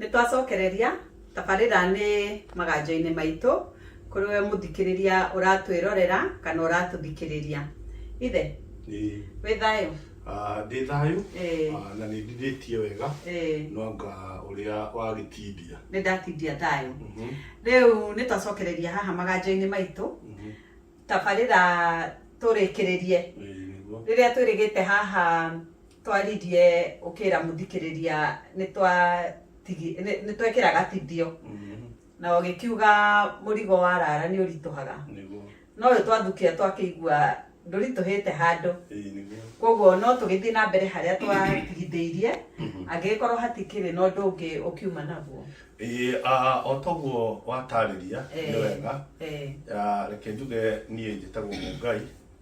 Nĩtwacokereria tabarĩra nĩ maganjo-inĩ maitũ kũrĩ we mũthikĩrĩria ũratwĩrorera kana ũratũthikĩrĩria. Ithe, wĩ thayũ? Ndĩ thayũ na nĩndithĩtie wega no anga ũrĩa wagĩtindia. Nĩndatindia thayũ. Rĩu nĩtwacokereria haha maganjo-inĩ maitũ tabarĩra tũrĩkĩrĩrie rĩrĩa twĩrĩgĩte haha. Twaririe ũkĩra mũthikĩrĩria nĩtwekĩra gatindio na ũgĩkiuga mũrigo wa rara nĩ ũritũhaga no ũyũ twathukia twakĩigua ndũritũhĩte handũ koguo no tũgĩthiĩ na mbere harĩa twatigithĩirie angĩgĩkorwo hatikĩrĩ na ũndũ ũngĩ ũkiuma naguo o toguo watarĩria nĩ wega reke njuge niĩ njĩtagwo Mũngai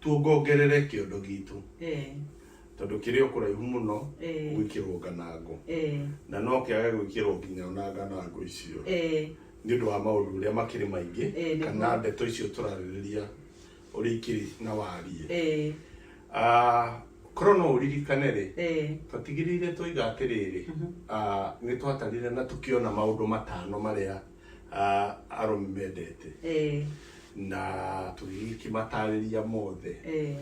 tuongongerere kĩondo gitũ eh, tondũ kĩrĩ o kũraihu mũno Eh. gwĩkĩrwo nganangũ eh, na no kĩage gwĩkĩrwo nginya ona nganangũ icio eh, nĩ ũndũ wa maũndũ ũrĩa makĩrĩ maingĩ Eh, nĩguo. kana ndeto icio tũrarĩrĩria ũrĩa ikĩrĩ na wariĩ eh, Ah, korwo no ũririkane rĩ eh, twatigĩrĩire twoiga atĩrĩrĩ ah, nĩ twatarire na tũkĩona maũndũ matano marĩa arũme mendete eh, na tũgĩkĩmatarĩria mothe eh,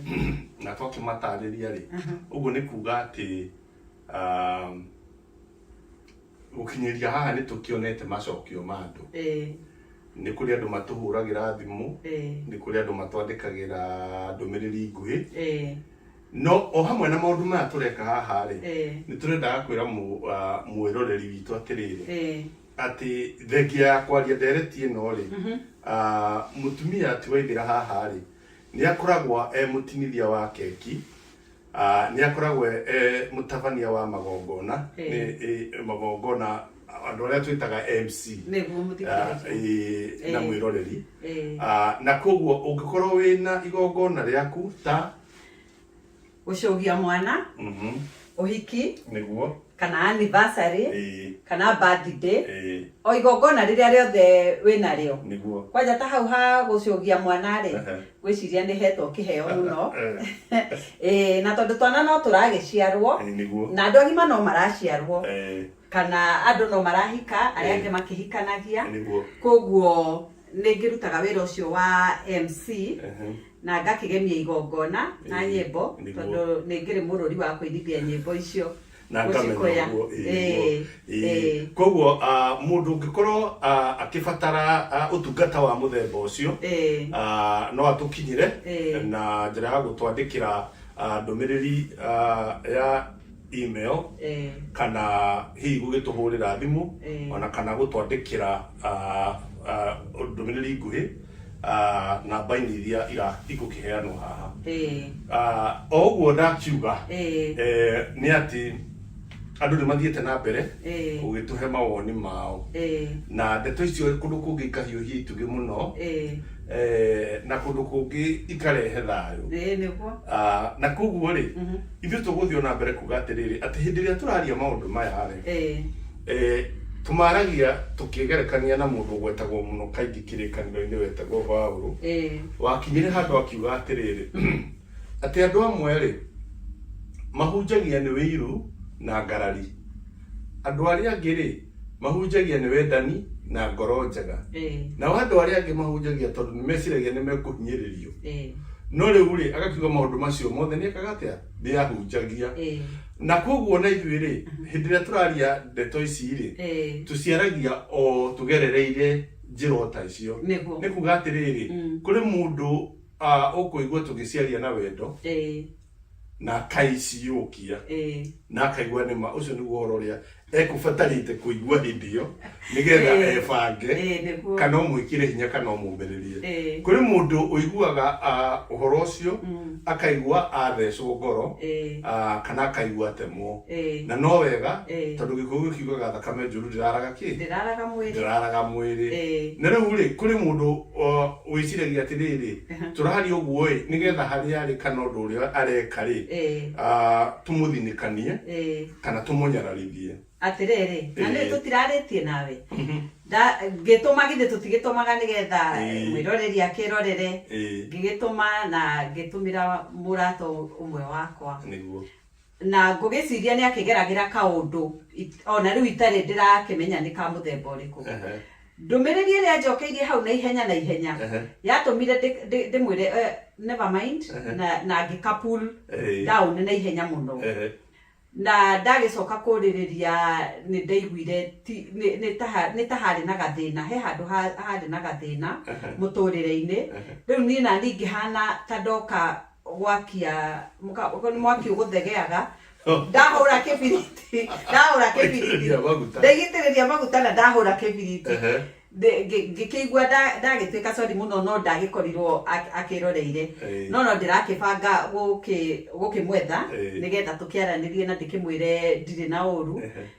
na twakĩmatarĩria rĩ ũguo nĩ kuga atĩ um, gũkinyĩria haha nĩ tũkĩonete macokio ma andũ eh, nĩ kũrĩ andũ matũhũragĩra thimũ eh, nĩ kũrĩ andũ matwandĩkagĩra ndũmĩrĩri nguhĩ eh, no o hamwe na maũndũ maya tũreka haha rĩ eh, nĩ tũrendaga kwĩra mũ- ah, mwĩroreri witũ atĩrĩrĩ eh, atĩ thengia ya kwaria ndereti ĩno rĩ ah, mũtumia ti waithĩra haha rĩ nĩ akoragwo e mũtinithia wa keki ah, nĩ akoragwo e- e mũtabania wa magongona Eh. nĩ eh, magongona andũ arĩa twĩtaga mc nĩguo Ah, mũthikĩrĩria ĩĩ, na Eh. mwĩroreri Eh. Ah, na koguo ũngĩkorwo wĩna igongona rĩaku ta gũcũgia mwana Mhm. ũhiki nĩguo kana anniversary Ĩĩ, kana birthday ĩĩ, o igongona rĩrĩa rĩothe wĩ narĩo nĩguo kwanja ta hau ha gũcũgia mwana rĩ Ehe. gwĩciria nĩ hetwo kĩheo mũno Ĩĩ, na tondũ twana no tũragĩciarwo Ĩĩ, nĩguo na andũ agima no maraciarwo Ĩĩ, kana andũ no marahika arĩa angĩ makĩhikanagia nĩguo koguo nĩ ngĩrutaga wĩra ũcio wa mc Ehe. na ngakĩgemia igongona na Ĩĩ, nyĩmbo nĩguo. tondũ nĩ ngĩrĩ mũrũri wa kũinithia nyĩmbo icio na ngamenya gũcikũya. ũguo ĩĩ, Ĩĩ, ũguo, ĩĩ. ĩĩ, koguo ah, mũndũ ũngĩkorwo ah, akĩbatara ah, ũtungata wa mũthemba ũcio ĩĩ, ah, no atũkinyĩre Ĩĩ. na njĩra ya gũtwandĩkĩra ah, ndũmĩrĩri ah, ya email eh. kana hihi gũgĩtũhũrĩra thimũ eh. ona kana gũtwandĩkĩra ah, ah, ndũmĩrĩri nguhĩ ah, namba-inĩ iria igũkĩheanwo haha eh. o ũguo ndakiuga nĩ atĩ andå nä mathiä te na mbere gå gä tå he mawoni mao na ndeto icio kå ndå kå ngä ikahiåhia itugä må no na kå ndå kå ngä ikarehe thayå na koguo rä mhm. Ithuĩ tũgũthiĩ o na mbere kuuga atĩrĩrĩ, atĩ hĩndĩ ĩrĩa tũraria maũndũ maya-rĩ, Ee. tũmaaragia tũkĩgerekania na mũndũ ũgwetagwo mũno kaingĩ Kĩrĩkanĩro-inĩ wetagwo Paulo. Ee. Wakinyire handũ akiuga atĩrĩrĩ, atĩ andũ amwe-rĩ, mahunjagia nĩ ũiru na ngarari. Andũ arĩa angĩ-rĩ, mahunjagia nĩ wendani na ngoro njega. Ĩĩ. Nao andũ arĩa angĩ mahunjagia tondũ nĩmeciragia nĩmekũhinyĩrĩrio. Ĩĩ. No rĩu-rĩ, agakiuga maũndũ macio mothe nĩekaga atĩa? Nĩahunjagia. Ĩĩ. Na kuoguo ona ithuĩ-rĩ, hĩndĩ ĩrĩa tũraria ndeto ici-rĩ, Ĩĩ. tũciaragia o tũgerereire njĩra o ta icio. Nĩguo. Nĩ kuga atĩrĩrĩ, kũrĩ mũndũ ũkũigua tũgĩciaria na wendo, Ĩĩ. na akaiciyũkia Eh. na akaigua nĩ ma ũcio nĩguo ũhoro ũrĩa ekũbatarĩte kũigua hĩndĩ ĩyo nĩgetha Eh. ebange Eh, nĩguo. kana ũmwĩkĩre hinya kana ũmũmĩrĩrie Eh. kũrĩ mũndũ ũiguaga ah, ũhoro ũcio Mm. akaigua athecwo ngoro Eh. ah, kana akaigua atemwo Eh. na no wega Eh. tondũ gĩkũyũ kiugaga thakame njũru ndĩraraga kĩ Ndĩraraga mwĩrĩ. ndĩraraga mwĩrĩ Eh. na rĩu rĩ kũrĩ mũndũ o, Wĩciragia atĩrĩrĩ, tũraria ũguo-ĩ, nĩgetha harĩa arĩ kana ũndũ ũrĩa areka-rĩ, tũmũthinĩkanie kana tũmũnyararithie. Atĩrĩrĩ, na nĩũĩ tũtirarĩtie nawe? Ngĩtũma githĩ tũtigĩtũmaga nĩgetha mwĩroreri akĩĩrorere? Ngĩgĩtũma na ngĩtũmĩra mũrata ũmwe wakwa. Nĩguo. Na ngũgĩciria nĩ akĩgeragĩra kaũndũ o na rĩu itarĩ ndĩrakĩmenya nĩ ka mũthemba ũrĩkũ. Ndũmĩrĩri ĩrĩa njokeirie hau na ihenya na ihenya yatũmire ndĩmwĩre eh, never mind na ngĩka pull down na ihenya mũno. Na ndagĩcoka kũrĩrĩria nĩ ndaiguire nĩ ta harĩ na gathĩna, he handũ harĩ na gathĩna mũtũrĩre-inĩ. Rĩu niĩ naniĩ ngĩhana ta ndoka gwakia mũka- ũguo nĩ mwaki ũgũthegeaga ndahũra kĩbiriti ndahũra kĩbiriti Gũitĩrĩria maguta. ndaigĩtĩrĩria maguta na ndahũra kĩbiriti Ehe. Ndĩ- ngĩ- ngĩkĩigua nda- ndagĩtuĩka sori mũno no ndagĩkorirwo ak- akĩroreire Ĩĩ. no no ndĩrakĩbanga gũkĩ- gũkĩmwetha Ĩĩ. nĩgetha tũkĩaranĩrie na ndĩkĩmwĩre ndirĩ na ũru Ehe.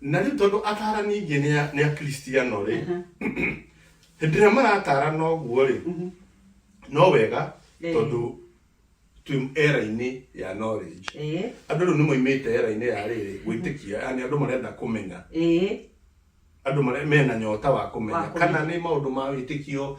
Na rĩu tondũ atarani aingĩ nĩ a- nĩ akristiano rĩ hĩndĩ ĩrĩa maratarana ũguo rĩ no wega Eh. tondũ twĩ era-inĩ ya knowledge ĩĩ andũ rĩu nĩ moimĩte era-inĩ ya rĩrĩ gwĩtĩkia yani andũ marenda kũmenya ĩĩ andå marä mena nyota wa kå Wa menya kũmenya. kana nä maå ndå ma wä tä kio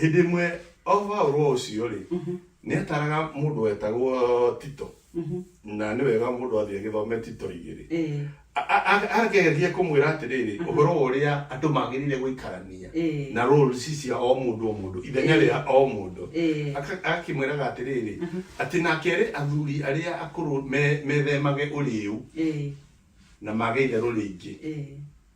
Hĩndĩ ĩmwe o Paulo ũcio-rĩ, nĩataraga mũndũ wetagwo Tito, na nĩ wega mũndũ athiĩ agĩthome Tito igĩrĩ. Ĩĩ. A- a- a- Akĩgeria kũmwĩra atĩrĩrĩ, ũhoro wa ũrĩa andũ magĩrĩire gũikarania Ĩĩ. na roles cia o mũndũ o mũndũ, ithenya Ĩĩ. rĩa o mũndũ. Ĩĩ. Aka- Akakĩmwĩraga atĩrĩrĩ, atĩ nake erĩ athuri arĩa akũrũ me- methemage ũrĩu Ĩĩ. na mage itherũ rĩingĩ. Ĩĩ.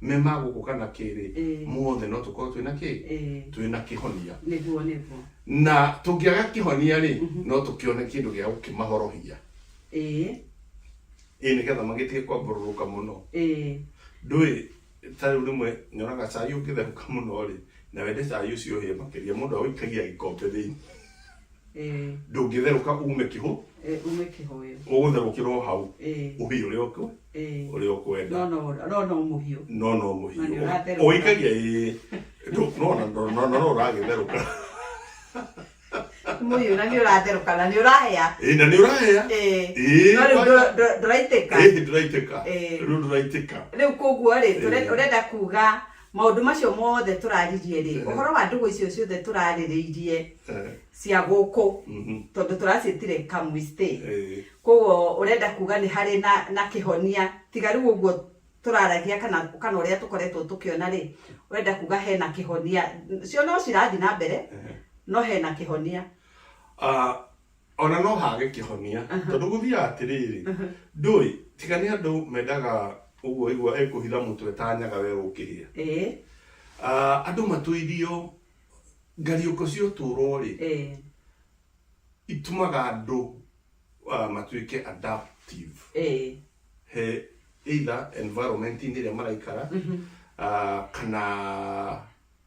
me ma gũkũ kana kĩrĩ Ĩĩ. mothe no tũkorwo twĩna kĩ Ĩĩ. twĩna kĩhonia Nĩguo nĩguo. na tũngĩaga kĩhonia rĩ no tũkĩone kĩndũ gĩa gũkĩmahorohia Ĩĩ. ĩ nĩgetha magĩtige kwambũrũrũka mũno Ĩĩ. ndũĩ ta rĩu rĩmwe nyonaga cai ũngĩtherũka mũno rĩ na wende cai ũcio ũhĩe makĩria mũndũ aũikagia gĩkombe thĩinĩ Eh, ndũngĩtherũka ume kĩhũ eh, ume kĩhoyo ũgũtherũkĩrwo hau Eh, ũhiũ ũrĩa ũkũ- eh. ũrĩa ũkwenda no no no no mũhiũ no no Na nĩ ũratherũka. mũhiũ ũikagia ĩĩ Ndũ- no na- no- no- no- no ũragĩtherũka mũhiũ na nĩ ũratherũka na nĩ ũrahĩa ĩĩ na nĩ ũrahĩa Eh, Ĩĩ, no rĩu wa- ndũ- ndũ- ndũraitĩka ĩĩ ndũraitĩka Eh. rĩu ndũraitĩka rĩu koguo rĩ tũre- Eh. ũrenda kuga Maũndũ macio mothe tũraririe rĩ, ũhoro wa ndũgũ icio ciothe tũrarĩrĩirie cia gũkũ, tondũ tũraciĩtire Kamwistĩ, kwoguo ũrenda kuga nĩ harĩ na na kĩhonia, tiga rĩu ũguo tũraragia kana kana ũrĩa tũkoretwo tũkĩona rĩ, ũrenda kuga hena kĩhonia, cio no cirathi na mbere, no hena kĩhonia. Ona no hage kĩhonia tondũ gũthiaga atĩrĩrĩ ndũĩ tiga nĩ andũ mendaga ũguo waigua ekũhitha mũtwe ta nyaga we ũkĩhĩa Eh, Ah, andũ matũithio ngariũko cia ũtũũro rĩ eh, itumaga andũ ah, matuĩke adaptive eh, he either environment-inĩ ĩrĩa maraikara ah, kana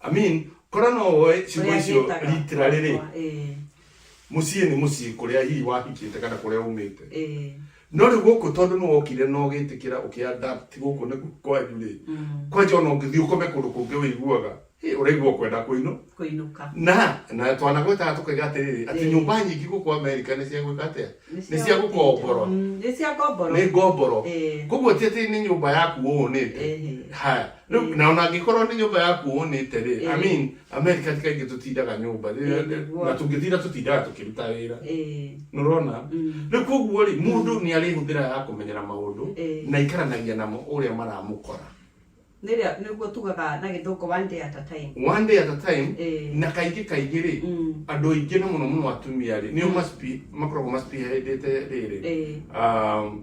Amin. Korwo no woe ciugo Ũrĩa icio njĩtaga ritira rĩrĩ, gwakwa, ĩĩ, mũciĩ nĩ mũciĩ kũrĩa hihi wahikĩte kana kũrĩa umĩte. ĩĩ, No rĩu gũkũ tondũ nĩ wokire na ũgĩtĩkĩra ũkĩadapt gũkũ nĩ kwanyu rĩ, mm, kwanja ona ũngĩthiĩ ũkome kũndũ kũngĩ wĩiguaga, "Hĩ, ũraigua ũkwenda kũinũka. kũinũka. Na, na twanagwetaga tũkaiga atĩrĩrĩ, atĩ Ĩĩ. nyũmba nyingĩ gũkũ Amerika nĩ cia gwĩka atĩa? Nĩ cia gũkomborwo. Mm, Nĩ cia ngomboro. Nĩ ngomboro. Ĩĩ. Koguo ti atĩ nĩ nyũmba yaku wonete. Ĩhĩ. Haya, Rĩu, Mm. na ona angĩkorwo nĩ nyũmba yaku wonete-rĩ, I Eh. mean, America ti kaingĩ tũtindaga nyũmba, rĩrĩa- Eh, nĩguo. na tũngĩtinda tũtindaga tũkĩruta wĩra. Eh, Nĩũrona? mm, Rĩu koguo-rĩ, mũndũ nĩ arĩhũthĩra ya kũmenyera maũndũ, Eh. na ikaranagia namo ũrĩa maramũkora. nĩrĩa- nĩguo tugaga na gĩthũngũ one day at a time One day at a time, Eh. na kaingĩ kaingĩ-rĩ, Mm. andũ aingĩ na mũno mũno atumia-rĩ, nĩo must be- makoragwo must be headĩte rĩrĩ. Eh. Um,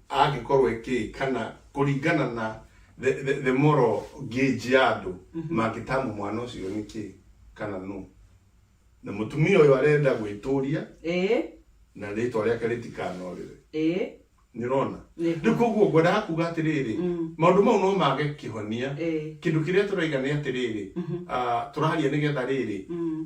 angĩkorwo ekĩĩ kana kũringana na the, the, the moral gauge ya andũ mangĩtamu mwana ũcio nĩ kĩ kana nũ na mũtumia ũyũ arenda gwĩtũria ĩĩ na rĩtwa rĩake rĩtikanorĩre ĩĩ nĩ ũrona Nĩ. rĩu koguo ngwendaga kuga atĩrĩrĩ Mm. maũndũ mau no mage kĩhonia ĩĩ kĩndũ kĩrĩa tũraiga nĩ atĩrĩrĩ ah, tũraria nĩgetha rĩrĩ Mm.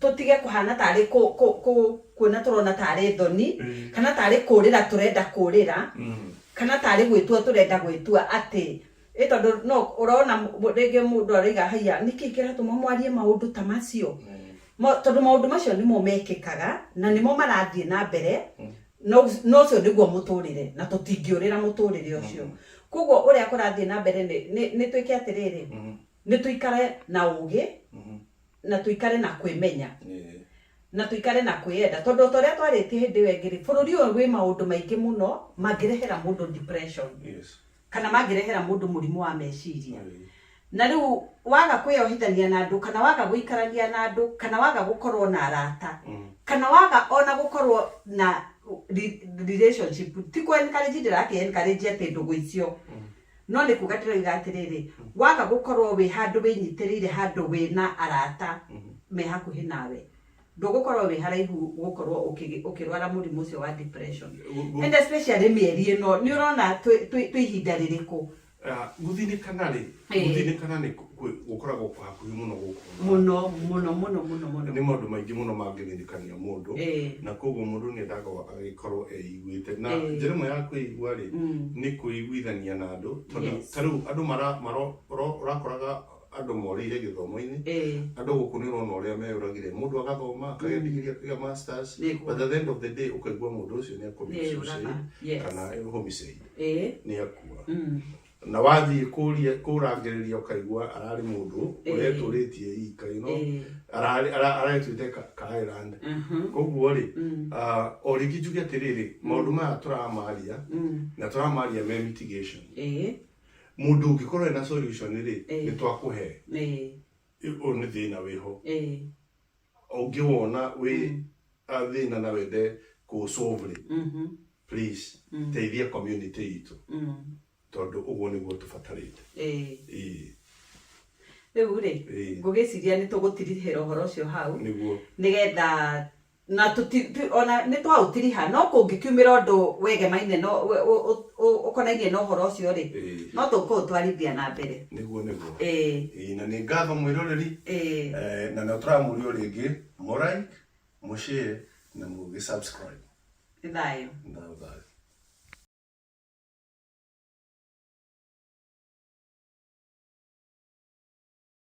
tũtige kũhana tarĩ kũ, kũ, kũ, kuona tũrona tarĩ thoni kana tarĩ kũrĩra tũrenda kũrĩra kana tarĩ gwĩtua tũrenda gwĩtua atĩ ĩ tondũ no ũrona mũ- rĩngĩ mũndũ aroiga haiya nĩkĩ kĩratũma mwarie maũndũ ta macio Ma- tondũ maũndũ macio nĩmo mekĩkaga na nĩmo marathiĩ na mbere na ũc- na ũcio nĩguo mũtũrĩre na tũtingĩũrĩra mũtũrĩre ũcio koguo ũrĩa kũrathiĩ na mbere nĩ- nĩ nĩ twĩke atĩrĩrĩ nĩ tũikare na ũgĩ na tuikare na kwimenya Eh, na tuikare na kwiyenda tondu o ta uria twaritie hindi iyo ingi ri bururi uyu wi maundu maingi muno mangirehera mundu depression yes. kana mangirehera mundu murimu wa meciria Eh, na riu waga kwiohithania na andu kana waga guikarania na andu kana waga gukorwo na arata mm, kana waga ona gukorwo na re- relationship ti ku encourage ndirathi encourage ati ndugu icio mm, No nĩ kuuga ndĩroiga atĩrĩrĩ, waga gũkorwo wĩ handũ wĩnyitĩrĩire handũ wĩ na arata me hakuhĩ nawe, ndũgũkorwo wĩ haraihu gũkorwo ũkĩ- ũkĩrwara mũrimũ ũcio wa depression. Gu- gu- And especially mĩeri ĩno, nĩ ũrona twĩ- twĩ twĩ ihinda rĩrĩkũ? Ah, gũthĩnĩkana rĩ Ĩĩ. gũthĩnĩkana nĩ kũ- kwĩ- gũkoragwo kwa hakuhĩ mũno gũkũ thĩ. mũno mũno mũno mũno mũno nĩ maũndũ maingĩ mũno mangĩthĩnĩkania mũndũ Eh. na koguo mũndũ nĩ endaga agĩkorwo eiguĩte na Eh. njĩra ĩmwe ya kwĩigua rĩ Mm. nĩ kwĩiguithania na andũ tondũ Yes. ta rĩu andũ mara- maro- ro- ũrakoraga andũ morĩire gĩthomo-inĩ Eh. andũ gũkũ nĩ ũrona ũrĩa meyũragire mũndũ agathoma akagĩa ndigiri akagĩa masters Nĩ kuo. but at the end of the day ũkaigua mũndũ ũcio nĩ Nĩ ũraga. Yes. kana homicide Eh. nĩ akua Mm. na wathiĩ kũria kũrangĩrĩria ũkaigua ararĩ mũndũ Eh. ũretũrĩtie ika you know, Eh, ararĩ- ara- aretuĩte ka- kairand aha, koguo rĩ mm, ah, o rĩngĩ njuge atĩrĩrĩ maũndũ maya tũramaria mm, na tũramaria me mitigation eh, mũndũ ũngĩkorwo ena solution rĩ Eh. nĩ twakũhe eh, ũyũ nĩ thĩna wĩho eh, ũngĩwona wĩ a thĩna na wende kũ solve rĩ Mhm. please Mm. teithia community itũ Mm. tondũ ũguo nĩguo tũbatarĩte Ĩĩ. Ĩĩ, rĩu rĩ ĩĩ, ngũgĩciria nĩ tũgũtirihĩra ũhoro ũcio hau nĩguo nĩgetha na tũti- tu- ona nĩ twaũtiriha no kũngĩkiumĩra ũndũ wegemaine no- ũ- ũ- ũ- ũkonainie na ũhoro ũcio rĩ Ĩĩ. no tũkũũtwarithia na mbere niguo niguo Eh. Ĩĩ, na nĩ ngatho mwĩroreri Eh. Eh, na no tũramũria rĩngĩ mũraik mũshare na mũgĩ subscribe Nĩ thayũ. na thayũ